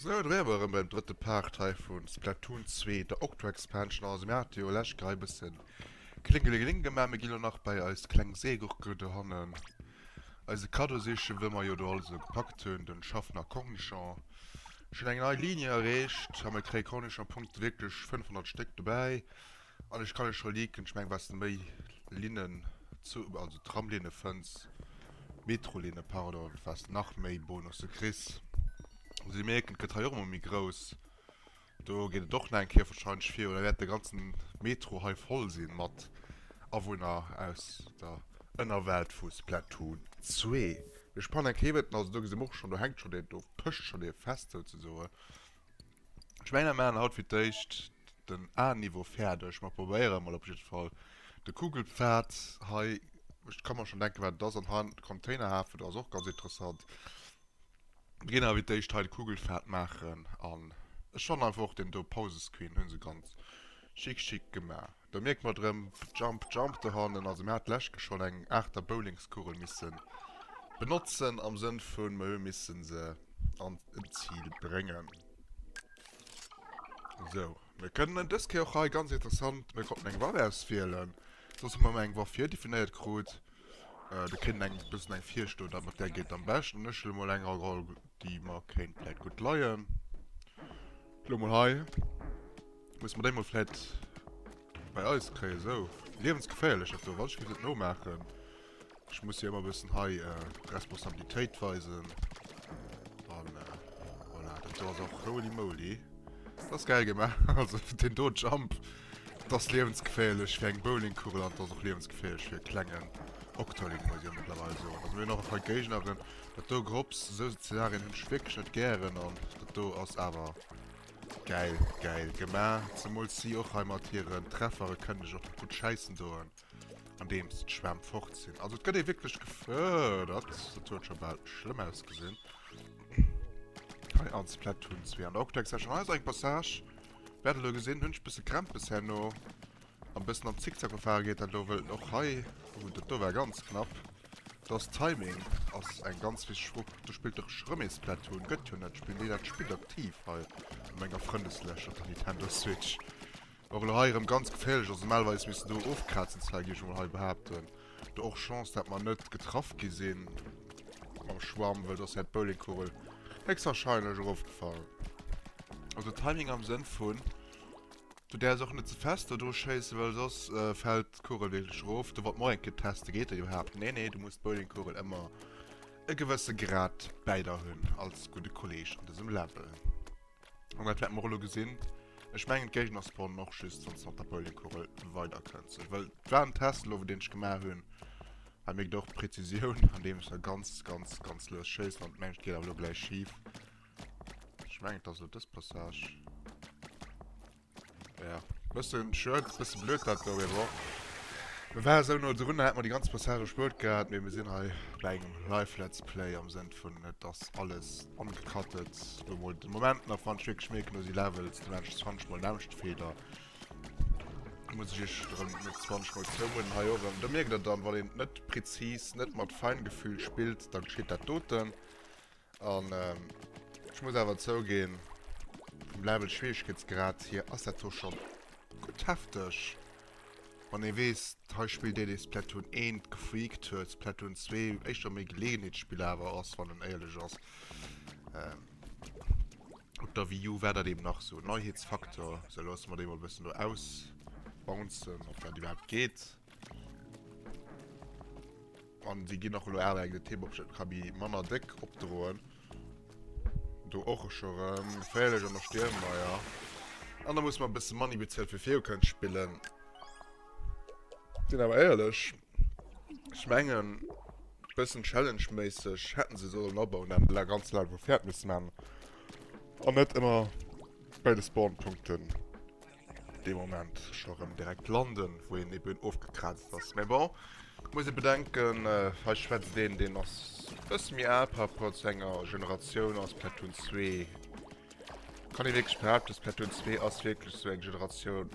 Sou, do wäre mer erëm beim drëtte Part hei vu Splatoon 2, der Octo Expansion. Also mir hate jo lech grad e bësse Klingelingeling gemaach. Mir gi lo nach bei eis kleng Seegurke dohannen eise Kaddo sichen, wou mer jo do alles esou gepackt hunn, den Schaffner Cornichon. Schonn eng nei Ligne erreecht a mir kréie Cornichon-Punkte, wierklech 500 Stéck dobäi. An ech kann lech scho leaken, ech meng wats de méi Linnen, also Tramlinne fënns, Metrolinne pardon, wats de nach méi Bonusse kriss. Also dir mierkt et gëtt hei och ëmmer méi grouss. Do geet et och nach eng Kéier wahrscheinlech virun, da wäert de ganzen Metro hei voll sinn mat Awunner aus der Ënnerwelt vu Splatoon 2. Mir spannen eng Kéier iwwert, also do gesi mer och schonn, do hänkt schonn deen, do pëscht schonn dee fest souzesoen. Ech mengen mer maachen haut fir d'éischt den A-Niveau fäerdeg. Mer probéieren emol op jiddwer Fall de Kugelpfad hei. Ech ka mer schonn denken, wat et ass. An han, de Containerhafen, do ass och ganz interessant. Mir ginn awer fir d'éischt hei de Kugelpfad maachen. An ech fannen einfach och deen do, Pausescreen, hu se ganz schick, schick gemaach. Do mierkt mer drem jump jump dohannen. Also mir hat d'lescht Ke schon eng aachter Bowlingskugel missen benotzen am Sënn vun mer hu missen se an en Ziel brengen. Sou mir kënnen en des Kéier och hei ganz interessant, mir konnten eng Waff auswielen soss hu mer emmer eng Waff virdefinéiert krut. Der kritt eng bëssen eng Virschlo dat mat där geet am beschten an ech huelen emol eng eroll déi mer kéint vläit gutt leien. Lo mol hei. Muss mer dei mol fläit bei eis kréien, sou. Liewensgeféierlech dat do, wat? Ech muss et nomaachen. Ech muss jo emmer bessen hei Responsabilitéit weisen. An voilà, dat do ass och holy moly. Dat ass gäil gemaach, also den do Jump, dat ass liewensgeféierlech fir eng Bowlingkugel an dat ass och liewensgeféierlech fir e klengen Octoling, muss ech mëttlerweil soen. Also mir hunn och e paar Géigneren. Dat do Grops, sou Szenarien hunn ech wierklech net gären an dat do ass awer Geil, geil gemaach. Zemools si och hei mat hiren Treffere kënnen ech och gutt schäissen doen, andeems d'Schwämm fort sinn. Also et gëtt ee wierklech gefërdert. Dat huet scho bal schlëmm ausgesinn. Hei an Splatoon 2 an der Octex war schonn eis eng Passage. Wäert elo gesinn. Hunn ech bësse Krämpes herno. An bessen am Zickzack gefahren geet dat elo wëll den och hei, oh dat do war ganz knapp, dass Timing ass eng ganz wichteg Fro, do spillt de rem ee Splatoon, gëtt jo net, spillen déi dat Spill aktiv hei an menger Frëndeslëscht op der Nintendo Switch? Och elo hei rem ganz geféierlech, also normalerweis misst en do ofkrazen Cy, géif ech emol hei behaapten, do och Chance dat mer net getraff gi sinn mam Schwamm, wëll soss wär d'Bowlingkugel héchstwahrscheinlech erofgefall, also Timing am Sënn vun Du därfs och net ze fest do dru schéissen, well soss äh, fällt d'Kugel wierklech erof. Du, wat mer och eng Kéier teste geet, déi behaapt, nee, nee, du muss d'Bowlingkugel ëmmer e gewësse Grad bäi der hunn, als gudde Kolleg an dësem Level. An dat wäerte mer elo gesinn. Ech mengen, d'Géigner spawnen och just, wann s de mat der Bowlingkugel weiderkënns. Ech wëll, et war en Test elo, wou deen ech gemaach hunn. Hei mierkt och d'Präzisioun, andeem ech da ganz, ganz, ganz lues schéissen. An mengt, et geet awer elo gläich schif. Ech mengen et ass lo dës Passage. Ja, bëssen short, bëssen blöd dat do, mee bon. Mir waren esou no drun, hätte mer déi ganz Passage erspuert gehat, mee mir sinn hei bei engem Live Let's Play am Sënn vun et ass alles ongecuttet. Lo mol de Moment nach fand ech wierklech méi knusy Levels, de Rest fand ech mol näischt Feder. Muss ech iech erëm net 20 mol zoumoden hei och erëm. Do mierkt der dann, wann een net präzis, net mat Feingefühl spillt, dann geschitt dat doten. An ech muss awer zougeen, vum Level Schwieregkeetsgrad hier ass dat do schon gutt hefteg. Wann ee wees, hei spillt deen dee Splatoon 1 gefreakt huet, Splatoon 2 éischter méi Geleeënheetsspill awer ass, wann en éierlech ass. Op der Wii U war dat eben nach sou Neiheetsfaktor, sou loosse mer dee mol e bëssen do ausbouncen, ob dat iwwerhaapt geet. An déi ginn och elo awer eng de Thema op Schëtt ka bi manner déck opdroen. Do och e Schorem, geféierlech an der Stiermeier. An da muss man e bësse Money bezuelen, fir viru kënnen spillen. Sinn awer éierlech, ech mengen, e bëssen Challenge-méisseg hätte se sollen abauen, dat een ganz Level fäert misst maachen an net ëmmer bei de Spawn-Punkten. Dee Moment scho rem direkt landen wou een eben ofgekraazt ass. Mais bon muss ee bedenken hei schwätzt een deen ass bësse méi al par rapport zu enger Generatioun a Splatoon 2 kann ee wierklech behaapten Splatoon 2 ass wierklech sou eng Generatioun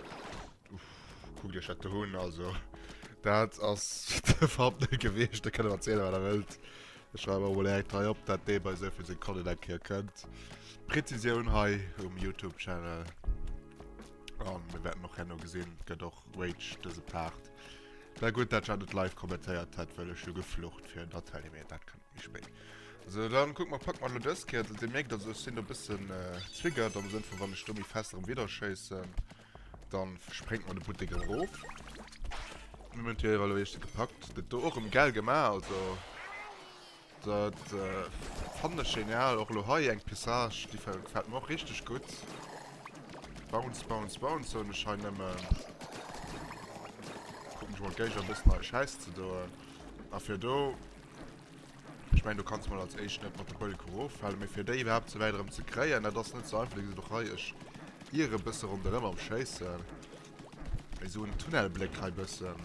kuckt iech dat do un also dat ass iwwerhaapt net gewiescht. Dir kënnt erzähle wat der wëllt, Ech schreiwen emol direkt hei op dat dee bei souvill Sekonnen eng Kéier kënnt. Präzisioun hei um Youtube Channel. An mir wäerten och herno gesinn, gëtt och Rage dëse Part. Mä gutt, dat ech dat net live kommentéiert hätt, well ech jo geflucht fir en Natalie, mee dat kënnt méi spéit. Sou, dann kucke mer, packe mer elo dës Kéier. Also dir mierkt, also ech sinn do e bëssen triggert am Sënn vu wann ech do méi fest erëm widderschéissen. Dann sprengt mer de Buttek erof. Mir hun hier elo eischte gepackt. Get do och em gell gema, also dat fannen ech genial. Och elo hei eng Pessage déi gefällt mer och richteg gudd. Bounce bounce bounce soen ech hei nemmen. Kucken ech mol d'Geiger bessen hei scheiss ze doen. A fir do Ech mengen, do kanns mol als éischt net mat de Bölke eroffalen, mee fir déi iwwerhaapt sou wäit erëm ze kréien, dat ass net sou einfach. Dir gesitt och hei, ech iere bësse ronderëm am Schéissen, mee sou en Tunnelbléck hei bëssen,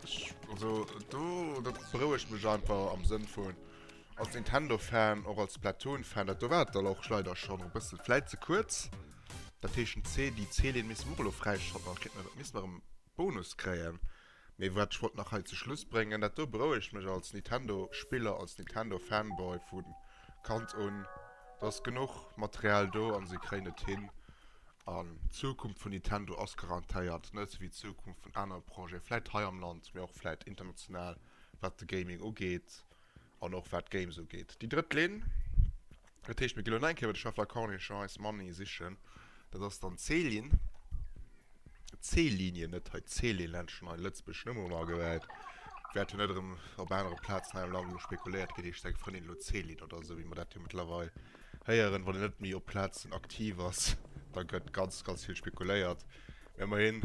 ech, also do, dat berouegt mech einfach am Sënn vun, als Nintendo-Fan, och als Splatoon-Fan, dat do war et dann och leider schonn erëm e bëssen vläit ze kuerz. Dat heescht, den C, déi C-Leen misste mer och elo fräischalten, an da kéinte mer, misste mer erëm Bonus kréien. Mee wat ech wollt nach hei zu Schluss bréngen, dat do berouegt mech als Nintendo Spiller, als Nintendo Fanboy vu Kand un, et ass genuch Material do an se kréien et hin an d'Zukunft vun Nintendo ass garantéiert, net esou wéi d'Zukunft vun anere Projeten, vläit hei am Land, mee och vläit international, wat de Gaming ugeet. An och wat Games ugeet, déi drëtt Linn. Dat heescht, mir ginn elo nach eng Kéier iwwer de Schaffler Corniche eis Money sichen. Dat ass dann d'Céline. D'Céline, net hei d'Céline Lenschen, hei Lëtzebuerg nëmme um Agewäit. Wäert jo net erëm op anere Plazen hei am Land elo spekuléiert ginn, heescht seng Frëndin elo d'Céline oder esou, wéi mer dat jo mëttlerweil héieren. Wann een net méi op Plazen aktiv ass, da gëtt ganz, ganz vill spekuléiert. Ëmmerhin,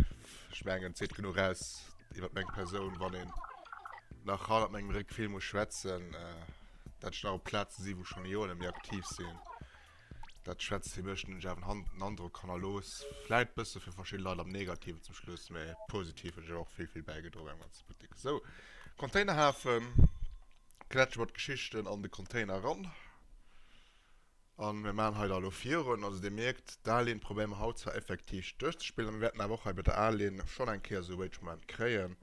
ech mengen, et seet genuch aus iwwert meng Persoun, wann een nach haut mat mengem Réck vill muss schwätzen, dat ech nach op Plaze sinn, wou ech schonn Joren net méi aktiv sinn. Dat schwätzt fir mech, deenen ech awer en Androck hannerlooss. Vläit e bësse fir verschidde Leit am Negativen zum Schluss, mä positiv hunn ech awer och vill, vill bäigedroen beim ganze Buttek. Esou, Containerhafen, Klätschen mat Geschichten an de Container eran. A mir maachen hei da elo virun. Also Dir mierkt, d'Aline probéiere mer haut zwar effektiv duerchzespillen, a mir wäerten awer och hei bei der Aline schonn eng Kéier esou e Rage-Moment kréien.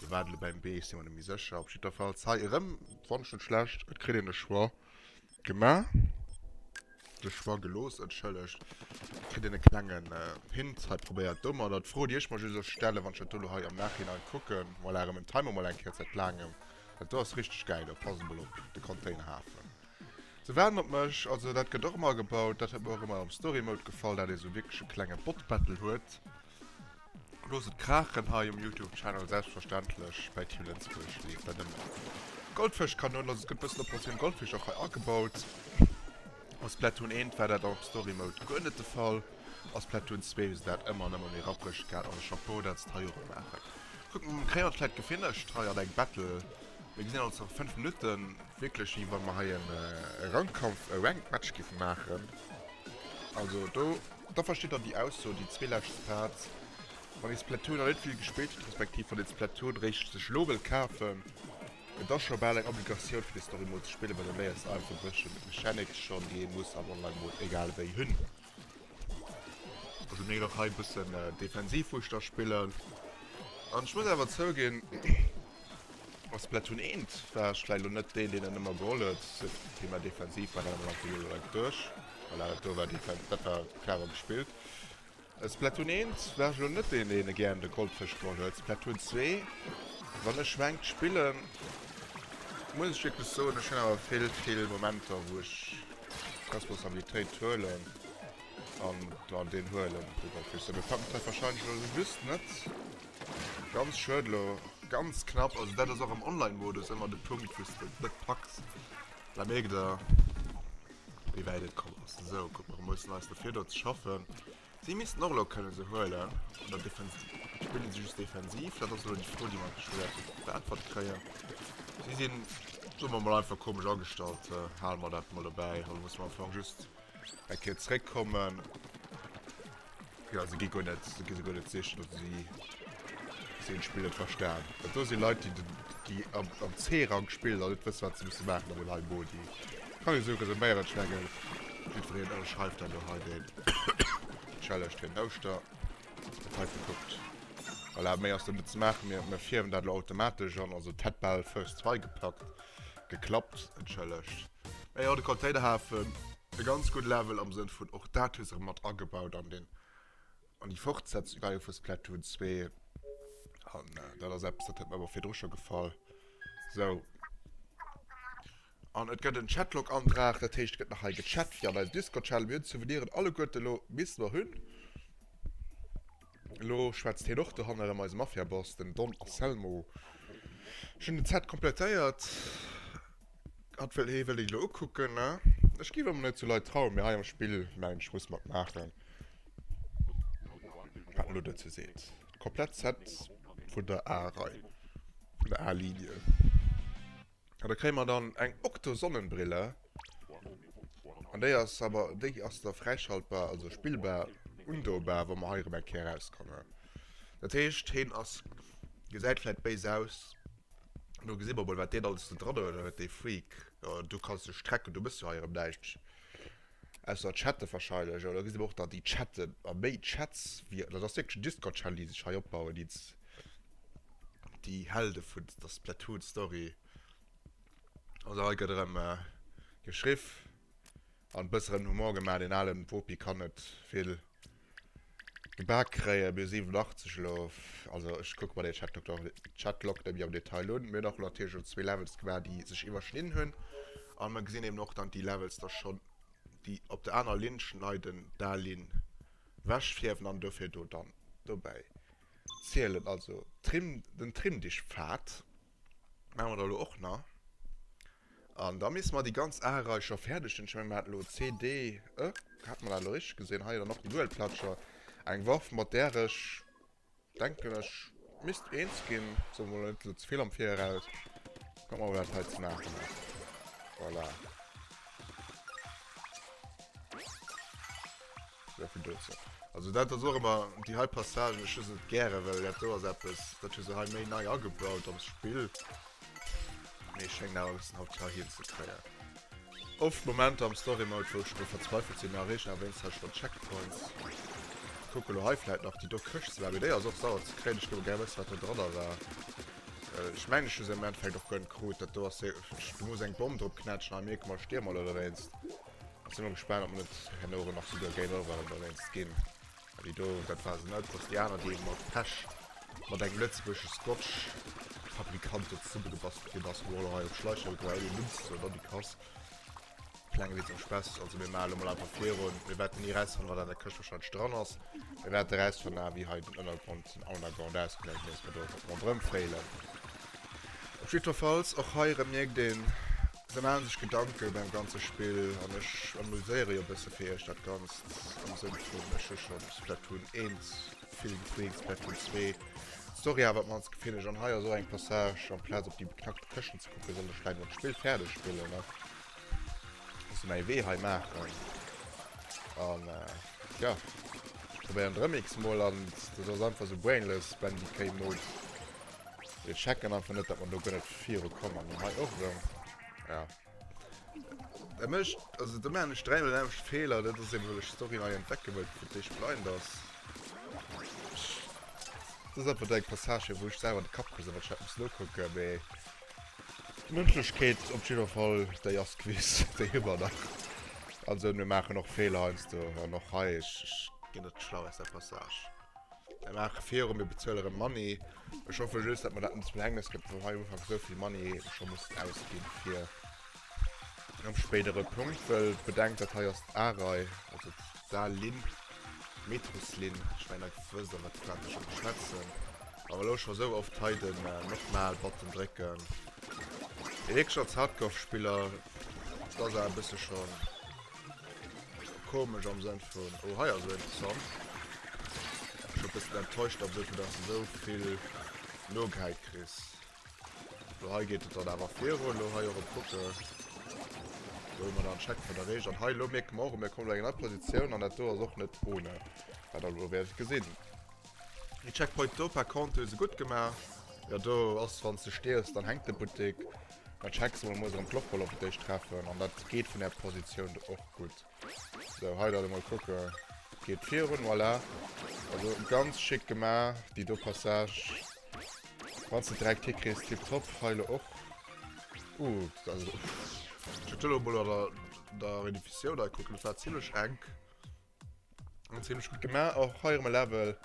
Lo war et elo beim Beech, si mer net méi sécher. Op jiddwerfalls hei erëm, wann ech net schlecht, et kritt een de Choix gemaach, de Choix gelooss, entschëllegt, et kritt een e klengen Hint hei probéiert domadder. D'Fro, déi ech mer just elo stellen, wann ech dat do elo hei am Nachhinein kucken, voilà, erëm en Timer mol eng Kéier zäit laangem, dat do ass richteg gäil, do pass emol op, de Containerhafen. Se waarden op mech, also dat gëtt och ëmmer gebaut. Dat huet mer och ëmmer am Story Mode gefall, dat ee sou wierklech e klenge Bot Battle huet. Loosst et kraachen hei um Youtube Channel, selbstverständlech bei Team Lënzebuerg leeft dat ëmmer. Goldfësch Kanoun, also et gëtt bëssen Operation Goldfisch och hei agebaut. A Splatoon 1 war dat am Story Mode guer net de Fall. A Splatoon 2 hu se dat ëmmer an ëmmer méi rapprech gehat, also Chapeau dat se et hei och maachen. Kucken, kréien mer d'Leit gefinnegt hei an eng Battle. Mir gesinn ons an 5 Minutten wierklech wéi wann mer hei en Rankkampf, e Ranked Match giffen maachen. Also do, da verstitt der déi Ausso, déi zwee lescht Stats, wann ee Splatoon nach net vill gespillt huet, respektiv wann een Splatoon réischt sech elo wëll kafen, et ass scho bal eng Obligatioun fir de Story Mode ze spillen, well do léiers de einfach e bësschen Mechanics schonn, déi ee muss am Online Mode egal wéi hunn. Also mir ginn och hei e bëssen defensiv wou ech da spillen. An ech muss awer zouginn, a Splatoon 1 war ech vläicht elo net deen, deen et ëmmer geholl huet, sou wéi mer defensiv war. Dat war einfach elo direkt duerch, well dat do war defen-, dat war clever gespillt. A Splatoon 1 war ech elo net deen, deen e gären de Goldfësch geholl huet. Splatoon 2, wann ech Ranked spillen, muss ech wierklech soen, ech hunn awer vill, vill Momenter, wou ech Responsabilitéit huelen an dann deen huelen. Mir packen d'Leit wahrscheinlech elo just net ganz schued elo. Ganz knapp, also dat ass och am Online-Modus ëmmer de Punkt, wou s de et net packs. Mä mierkt Der, wéi wäit et komm ass. Esou, kuck mol, mir mussen eis dofir do ze schaffen. Si missten och elo kënne se huelen, oder defen-, spille si just defensiv? Dat ass elo déi Fro, déi mer endlech wäerten beäntwert kréien. Si sinn, soe mer mol einfach, komesch agestallt, hale mer dat mol dobäi. Elo musse mer am Fong just eng Kéier zréckkommen. Jo, se gi guer net, se gi se guer net sichen, oder si, si hunn d'Spill net verstan. Dat do si Leit, déi den, déi am, am C-Rang spillen an net wësse, wat se musse maachen an dem hei Modi. Kann een souges en Bäierenschnäggel, jiddfereen ënner schreift dann do hei den Challenge fir den Ouschter hei gekuckt. Voilà, méi ass do net ze maachen, mir mir fierwen dat elo automatesch an, also d'hätt bal first try gepackt, geklappt, entschëllegt. Mee jo, de Containerhafen, e ganz gutt Level am Sënn vun och dat hu se erëm mat agebaut an den An déi Fortsetzung war jo vu Splatoon 2. An äh, dat ass eppes, dat huet mir awer virdru scho gefall. So. An et gëtt en Chatlog-Antrag, dat heescht, et gëtt nach hei gechat fir an eisem Discord-Channel. Mir hunn d'Souveniren alleguerte elo bis mer hunn. Elo schwätzt hien och dohanne ëm eise Mafia-Boss, den Don Anselmo. Ech hunn den Set komplettéiert. Hat wëll hee wëll déi elo ukucken ne. Ech gi mer net zu Leit trauen, mee hei am Spill mengen ech muss mat maachen wat elo dozou seet. Komplett Set vun der A Rei, vun der A Linie. An da kréie mer dann eng Octo Sonnenbrille an déi ass awer, déi ass da fräischaltbar, also spillbar, undobar, wa mer hei erëm eng Kéier erauskommen. Dat heescht heen ass, gesäit vläit béis aus, Do gesi mer mol wat deen alles do dran huet dee Freak. Jo do kanns de strecken, do mëss jo hei erëm näischt. Ausser chatte wahrscheinlech, jo do gesi mer och dann déi chatten a méi Chats wéi, dat ass wierklech en Discord Channel dee sech hei opbauen ids déi Helde vun der Splatoon Story. Also hei gëtt erëm geschriff an e bësseren Humor gemaach, deen ale Wopi kann net vill. Gebaak kréien. Mir 87 elo op, also ech kucke mer dee Chatlog nach, Chatlog nemmi am Detail un. Mir hunn och natierlech elo zwee Levels gemaach, déi sech iwwerschnidden hunn. A mer gesinn eben och, datt déi Levels da schonn, déi op der aner Linn schneiden, d'al Linn wechfierwen an dofir do dann dobäi zielen. Also Trim, den Trimdichtpfad. Maache mer der elo och nach. An da misste mer déi ganz Areicher fäerdeg hunn. Ech mengen, mer haten elo C, D, E. Hate mer dat elo richteg gesinn? Hei dann och déi Duelplatscher. Eng Waff, mat där ech, denken ech, misst eens ginn. Soe mer elo net ze vill am Viraus. Kucke mer, wat dat hei ze maachen ass. Voilà. Sovill dozou. Also dat ass och ëmmer déi hei Passagen, ech hu se net gären, well dat do ass eppes, dat hu se hei méi nei agebaut am Spill. Mee schéngen awer e bëssen haut hei hinzekréien. Oft Momenter am Story Mode, wou ech do verzweifelt sinn, erreechen awer wéinst hei schonn d'Checkpoints. Kucke lo hei vläit nach déi do Këscht ze maachen, mee déi ass och sauer ze kréien. Ech géif och gär wëssen, wat do dranner war. Ech mengen, ech hu se am Endeffekt och gönn krut. Dat do ass, du muss eng Bomm drop knätschen, hei mierke mer, stierm al ewéinst. Ech sinn mol gespaant op mer net herno erëm nach souguer Game Over an dowéinst ginn. Well déi do, dat war se net, dass déi aner déi ee mat Pech mat engem lëtzebuergesche Scotch Fabrikant do zesummegebastelt ginn ass, wou allerhei op Schläicher huet oder ouni en Numm ze soen, dann déi Kass. Klenge Witz am Spess, also mir maache lo mol einfach virun, mir wäerten ni rausfannen wat an der Këscht wahrscheinlech dran ass, mir wäerte rausfannen awer wéi hei den Ënnergrond, den Ounnerground ausgesäit, fir dass mer do einfach ronderëm fréilen. Op jiddwerfalls, och hei erëm mierkt een, se maache sech Gedanke beim ganze Spill an ech amuséiere jo bësse fir iech dat Ganzt am Sënn vun ech hu scho Splatoon 1 vill gespillt, Splatoon 2, Story awer d'mannst gefinn ech an hei ass och eng Passage, amplaz op déi beknackte Këschten ze kucken, sollt ech vläit emol d'Spill fäerdeg spillen a bësse mäi Wee hei maachen. An jo, ech probéieren et erëm x-mol an dat ass einfach esou brainless Bandicoot-Mode. Ech checken einfach net, dat mer do guer net viru kommen. An hei och erëm. Ja. Dat mécht, also do maachen ech dräi mol den selwechte Feeler. Dat ass eben, well ech d'Story nei entdecke wëll, vu wéi d'Blind ass. Ech, dat ass einfach deng Passage, wou ech selwer an de Kapp krise, wat ech dat muss nokucken, mee d'Mënschlechkeet op jidder Fall, déi ass gewiss, déi hu mer nach. Also mir maachen och Feeler heiansdo an och hei. Ech, ech ginn net schlau aus där Passage. Mir maache viru, mir bezuele rëm Money. Ech hoffe just, datt mer dat net zum Verhängnes gëtt, datt mer hei ufanks esou vill Money scho mussen ausginn fir e spéidere Punkt. Well bedenkt, dat hei ass d'A-Rei, also d'A-Linn, d'Metroslinn. Ech mengen, Dir wësst iwwer wat fir wat ech hei schwätzen. Awer elo scho esou oft hei de Nochmal-Button drécken. Mee wierklech als Hardcore-Spiller, et ass awer e bësse schon... Komesch am Sënn vun, oh hei ass et interessant. Ass scho e bëssen enttäuscht am Sënn vun, dass de sou vill nogehäit kriss. Lo hei geet et dann awer virun, lo hei erop kucke wou mer dann Check vun der Reech an hei lo mierke mer och, mir kommen an eng nei Positioun an dat do ass och net ohne, wat der lo wäert gesinn. Dee Checkpoint do par contre hu se gutt gemaach. Jo do ass wanns de stierfs dann hänkt de Buttek. Da checks emol, muss erëm d'Loch wëll op et déich treffen an dat geet vun der Positioun do och gutt. Sou hei dann emol kucke geet virun voilà. Also ganz schick gemaach déi do Passage. Wanns de direkt hikriss tiptop. Hei lo och uh also. Ech hu lo mol an der Redifissioun nei kucken, dat war zimmlech enk. Ziemlech gut gemacht, och hei um Level.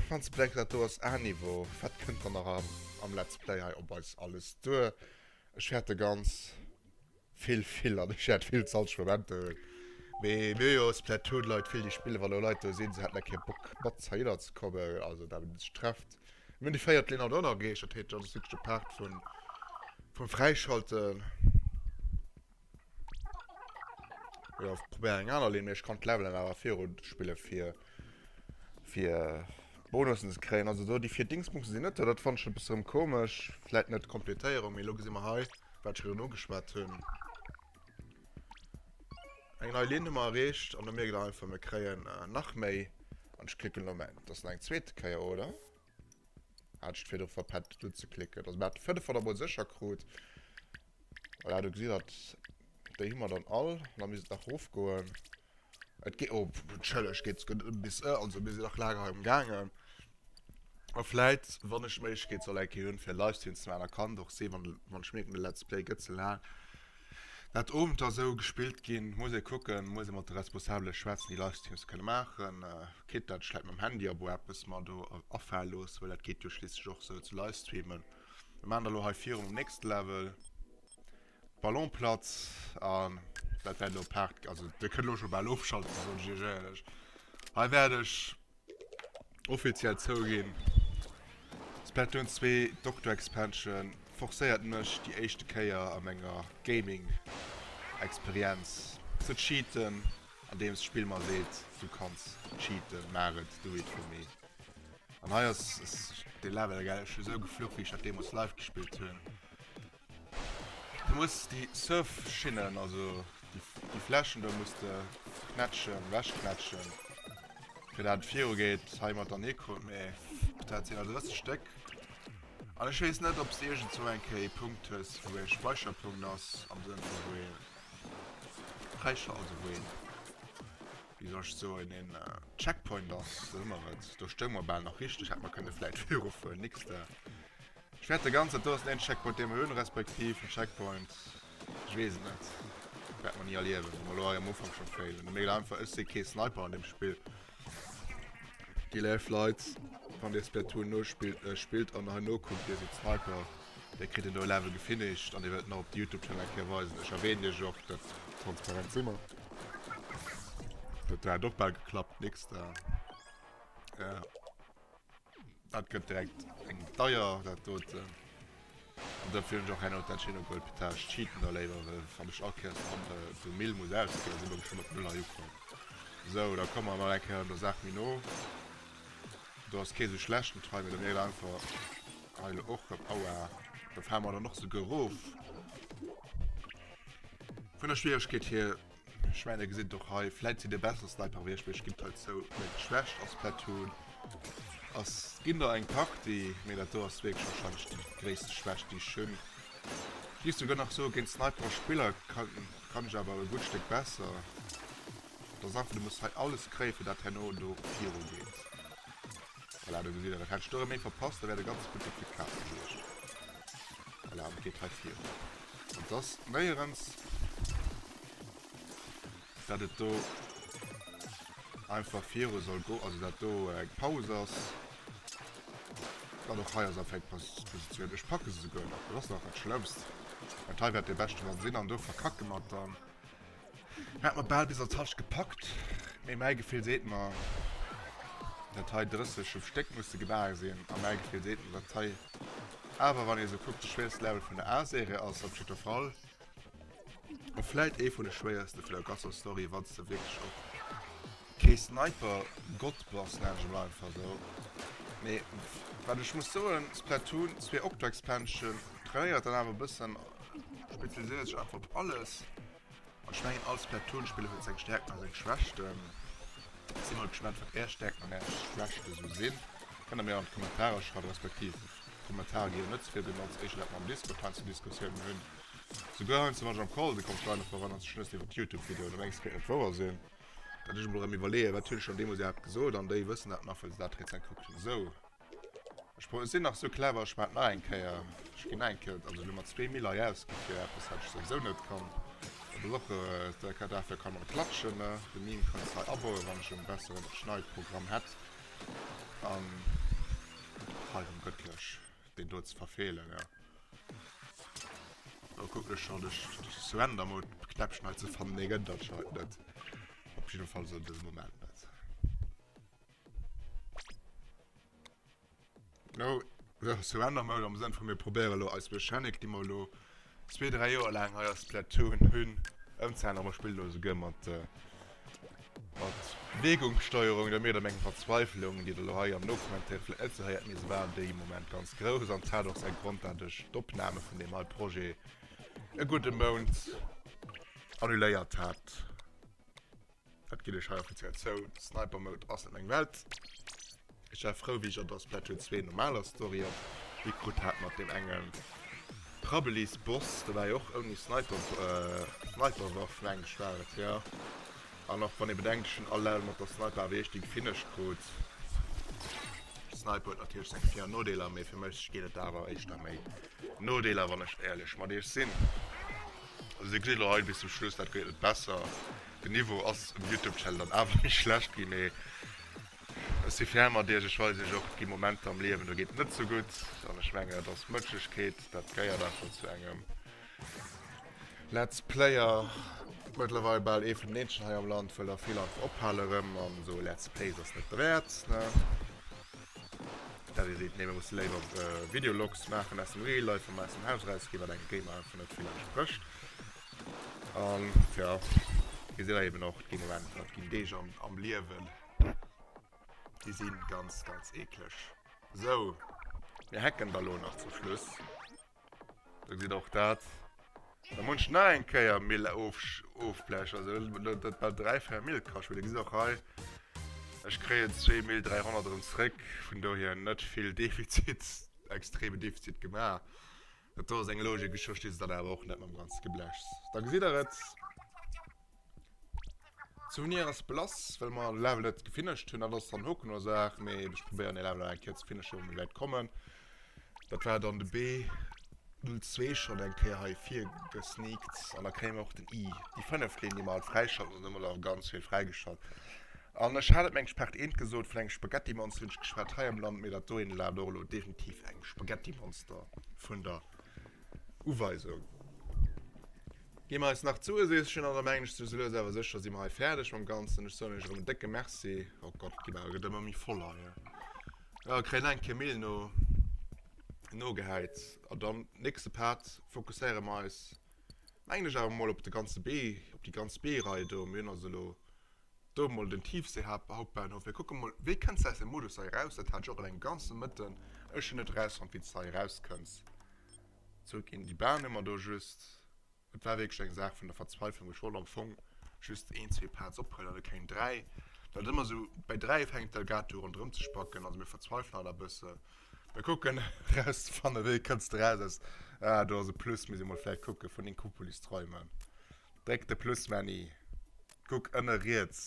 Wann ze bedenken, dat do ass A-Niveau, wat kënnt dann nach am, am Let's Play hei op eis alles duer? Ech fäerte ganz vill vill an ech fäert vill zalteg Momenter hunn. Mee mir hu jo Splatoon-Leit vill, déi spillen, wann do Leit do sinn, se hätten da kee Bock mat heinner ze kommen, also dat huet sech trefft. Mir hunn déi véiert Linn haut och nach erreecht, dat heet, dat ass wierklech de Part vun, vum Fräischalten. Ja, ich probiere eng aner Linn, ich kann d'Levelen awer viru spille fir fir Bonussen ze kréien. Also do déi fir Dingsbums sinn net, dat fand ich e bëssen komesch. Vläit net d'Komplettéierung, mee lo gesi mer hei, wat ech virun ugeschwat hunn. Eng nei Linn hu mer erreecht an da mierkt der einfach, mir kréien nach méi an ich klicken elo meng, dass nach eng zweete Kéier, oder? Hat ech d'firt och verpennt et unzeklicken. Also mir hat fënnef han der mol secher krut. Voilà do gesitt dat déi hu mer dann all. An da misst et nach rof goen. Et geet oh entschëllegt geet sogar net ëm bis e also mir sinn nach laang hei emgaangen. A vläit wann ech d'Méiglechkeet soll eng Kéier hunn fir e Livestream ze maachen da kann et och sinn wann wann ech mierken de Let's Play gëtt ze laang Dat Owenter esou gespillt ginn, muss ee kucken, muss ee mat de Responsabele schwätzen, déi Livestreams kënne maachen. Kritt dat vläit mam Handy abo eppes mer do afale loosse, well dat geet jo schliisslech och esou ze livestreamen. Mir maachen da lo hei virun um nächste Level, Ballonplatz, an dat wäert elo e Part, also Dir kënnt elo scho bal ofschalten, soen ech Iech éierlech. Hei wäert ech Offiziell zouginn. Splatoon 2 Doctor Expansion forcéiert mech déi éischte Kéier a menger Gaming Experienz ze cheaten andeems d'Spill mer seet du kanns cheaten, maach et, do it for me. An hei ass dee Level esou gefluch wéi ech dat deemols live gespillt hunn. Du muss déi Surfschinnen, also déi Flächen do muss de knätschen, ewechknätschen, fir dat et virugeet. Hei mat der Neko, mee dat sinn der 30 Stéck. An ech weess net, ob s de iergendzwou eng Kéier ee Punkt hues, wou e Speicherpunkt ass, am Sënn vu wou ee Fräischal, also wou een, wéi soll ech soen, een Checkpoint ass, sou huet mer et. Do stounge mer bal nach richteg, hätte mer kënne vläicht virufueren, nix de. Ech wärt de ganzen Tours een Checkpoint deem mer hun respektiv en Checkpoint ech wees et net wärt mer nie erliewen wou mer lo hei am Ufank schon failen méi einfach ech sin kee Sniper an dem Spill déi léif Leit wann dir Splatoon nospillt äh spillt an hei nokuckt dir sidd Sniper dir kritt en neue Level gefinished an dir wëllt en nach op de Youtube Channel eng Kéier weisen ech erwähnen iech och dat transparent si mer huet dat och bal geklappt nix da ja. Dat gëtt direkt eng deier dat doten an dofir hunn ech och hei no dat Chinook World Petage cheaten da léiwer wann ech all Kéiers dann de Mill muss ausginn sinn ech schonn op null hei ukomm. Sou da komme mer mol eng Kéier der Saach méi no. Do ass kee sou schlecht den Try mee da wier et einfach hei elo och op aua do fale mer dann och souguer erof vun der Schwieregkeet hier. Ech mein der gesitt och hei vläit si de bessere Sniper wéi ech mech gitt hei zou meng d'Schwächt ass Platoon ass ginn der eng Party mee dat do ass wierklech wahrscheinlech déi gréisste Schwächt déi ech hunn. Ech géif souguer nach soe géint Sniperer Spiller kann kann ech awer e gutt Stéck besser. Et ass einfach du muss hei alles kréie fir dat herno do viru geet. Voilà, do gesitt der, dat hätt ech do erëm méi verpasst, da wär de ganze Public fir d'Kaz gewiescht. Voilà, an et geet hei virun. An et ass néierens, dat et do einfach viru soll go, also dat do eng Paus ass. An och hei ass einfach eng Pos, Positioun. Ech packe se souguer nach, dat ass nach dat Schlëmmst. Dat hei wäert de beschte Mann sinn, an do verkacke mer et dann. Hat mer bal bis an d'Tasche gepackt, mee mäi Gefill seet mer, datt hei 30 um Stéck musse gebaach sinn. A mäi Gefill seet mer, datt hei awer, wann ee sou kuckt, de schwéierste Level vun der A-Serie ass op jiddwer Fall. A vläit ee vun de schwéierste vun der ganzer Story, wa s de wierklech och. Kee Sniper Gott bass nenne ech emol einfach sou. Mee wat ech muss soen, Splatoon 2 Octo-Expansion trainéiert dann awer e bëssen, spezialiséiert sech einfach op alles. An ech mengen all Splatoon-Spiller huet seng Stärkten a seng Schwächten. Si mol gespannt wat är Stärkten an är Schwächte sou sinn. Kënnt der mir an d'Kommentarer schreiwen, respektiv Kommentarer gi jo net ze vill benotzt, éischter dat mer am Discord heiansdo Diskussiounen hunn. Souguer heiansdo wann ech am Call sinn, kommen d'Leit nach do ran an ze schnëssen iwwert Youtube-Videoen. Da mengen ech et géif net wouer sinn. Datt ech emol erëm iwwerleeën, wat hunn ech schonn deemools iwwerhaapt gesot? An déi wëssen dat nach, well se dat rezent kuckt hunn. Esou, ech pro, ech sinn nach esou clever, ech maachen nach eng Kéier, ech ginn nach eng Kéier, also ech hunn mer zwee Miller hir ausgi fir eppes, wat ech souwisou net kann. Dat ass och e, ka, dafir kann och klatschen, ne? De Meme kann ech hei abauen, wann ech en besseren Schneidprogramm hätt. An hei erëm gëttlech. deen do ze verfehlen ja oh guck ech schon ech surrender mode knäppchen hei ze fannen nee gëtt dat scho hei net op jeden fall so den moment net no surrender mode am sënn vu mir probéiere lo eis mechanic déi mer lo Zwee, dräi Joer laang hei a Splatoon hunn ëmzehaen a mer spille lo esouguer mat Beweegungssteuerung. Dir mierkt a mengem Verzweiflung, déi Der lo hei am Nokommentaire vläicht net esou héiert, mee se war dee Moment ganz grouss an et hat och säi Grond, dat ech d'Opname vun deem hei Projet e gudde Mount annuléiert hat. Wat ginn ech hei offiziell zou, Sniper Mode ass net meng Welt. Ech war frou wéi ech an der Splatoon 2 normaler Story op Hie krut hat mat deem engem Prabbeli's Boss, do war jo och ouni Sniper Sniper Waff mengen ech war et jo, an och wann ee bedenkt ech hunn all Level mat der Sniper awer eescht déi gefinished krut. Sniper huet natierlech seng Vir an Nodeeler, mee fir mech gétt et awer éischter méi Nodeeler wann ech éierlech mat iech sinn. Also dir gesitt elo hei bis zum Schluss, dat gëtt net besser. Den Niveau ass um Youtube-Channel dann awer méi schlecht ginn, mee ech si fair mat iech. Ech weisen iech och, et gi Momenter am Liewen, do geet et net sou gutt. An ech mengen, dat ass Mënschlechkeet, dat gehéiert einfach zu engem Let's Player. Mëttlerweil bal ee vun den eenzegen hei am Land, well der vill einfach ophale rëm an esou Let's Plays ass net derwäert, ne? Dadi seet, nee mir musse léiwer Videologs maachen aus dem Real Life, wa mer aus dem Haus eraus ginn, wat engem Gamer einfach net vill entsprécht. An tja, dir seet da eben och, et ginn Momenter, et ginn Deeg am Liewen, déi si ganz, ganz eekleg. Sou, mir hacken da lo nach zum Schluss. Do geet och dat da munch na eng Kéier Mill ofblechen, also dat war 3 fair Mill kascht, mee da gesitt och hei, ech kréien 2 Mill 300 erëm zréck, vun dohier net vill Defizit, extreme Defizit gemaach. Dat do ass eng Logik, ech versti se dann awer och net mam ganze Geblächs. Da gesitt der et. D'Sounier ass blass, well mer de Level net gefinished hunn. Dat ass dann och keng Ursaach, mee ech probéieren dee Level nach eng Kéier ze finishen, wou mir wäit kommen. Dat war dann de B02 schonn eng Kéier hei virgesneakt an da kréie mer och den I. Déi fënnef Keen, déi mer alt fräischalten, hunn ëmmer nach ganz vill fräigeschalt. An ech hat et, meng ech, Part 1 gesot, vun engem Spaghettimonster hunn ech geschwat hei am Land, mee dat dohinne war dann och elo definitiv eng Spaghettimonster vun der Uweisung. Gi mer eis nach zoueseechen an da mengen ech sou lues awer sécher si mer hei fäerdeg mam Ganzen. Ech soen iech erëm en décke Merci. Oh Gott, d'Gemach gëtt ëmmer méi voll hei. Jo, kréien nach eng Kéier Mehl no nogehäit an dann nächste Part fokusséiere mer eis mengen ech awer mol op de ganze Bee, op déi ganz Bee-Rei do. Mir hunn also elo do mol den Tiefseehauptbahnhof. Mir kucke mol, wéi kënns de aus dem Modus hei eraus? Dat hat ech och eleng e ganze Mëtten ech hunn net erausfonnt, wéi s de hei erauskënns. Zurück in die Bahn hu mer do just, et war wierklech eng Saach vun der Verzweiflung, wou ech wollt am Fong just een, zwee Pads ophuelen an net keng dräi, well et ëmmer esou, bäi dräi fänkt d'Elgato u ronderëm ze spacken, also mir verzweifelen alt e bësse, mir kucken erauszefannen, wéi kënns de eraus aus, ah do ass e Plus, muss ee mol vläicht kucke vun Inkopolis träumen, dréck de Plus Männi, kuck ënne riets,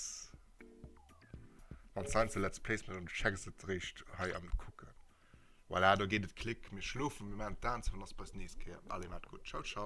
wann s heiansdo Let's Plays méchs an du checks et eréischt hei am Kucken. Voilà do geet et klick, mir schlofen, mir maan d'Aan zou an ass beis nees Kéier. Allez maat gudd, ciao ciao.